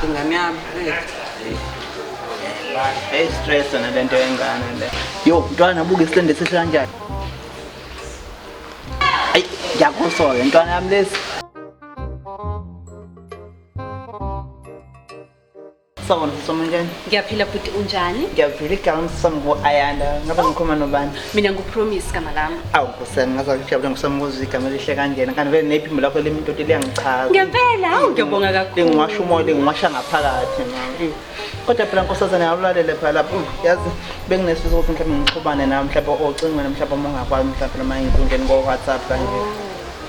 ingane yami hey stress na lento yengane le yo mntwana buke isilende seshe kanjani ayi ngiyakusola mntwana yami lesi Sawubona sisoma njani? Ngiyaphila bhuti unjani? Ngiyaphila igama ngisisoma ku-Ayanda. Ngabe oh. ngikhuluma nobani? Mina nguPromise gama lami. Awu Nkosi yami ngaze ngijabule ngisoma ukuzwa igama elihle kanjena. Kanti vele nephimbo lakho limi indoda liyangichaza. Ngempela hawu ngiyabonga kakhulu. Lingiwasha umoya lingiwasha ngaphakathi manje. Kodwa phela nkosazane awulalele phela lapho yazi benginesifiso ukuthi mhlawumbe ngixhubane nawe mhlawumbe ocingweni mhlawumbe uma ungakwazi mhlawumbe noma inkundleni ngo-WhatsApp kanje.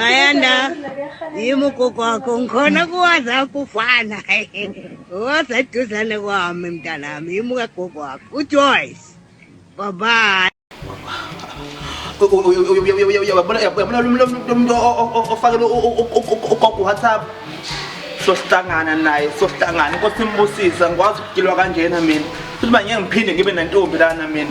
ayanda yimi ugogo wakho ngikhona kuwaza kufana waza eduzane kwami mntanami yimi ukagogo wakho ujoyce babayi uyabona lomuntu ofakele ugogo whatsapp sohlangana naye sohlangana inkosi imbusisa ngikwazi ukugilwa kanjena mina futhi uba ngeke ngiphinde ngibe nentombi lana mina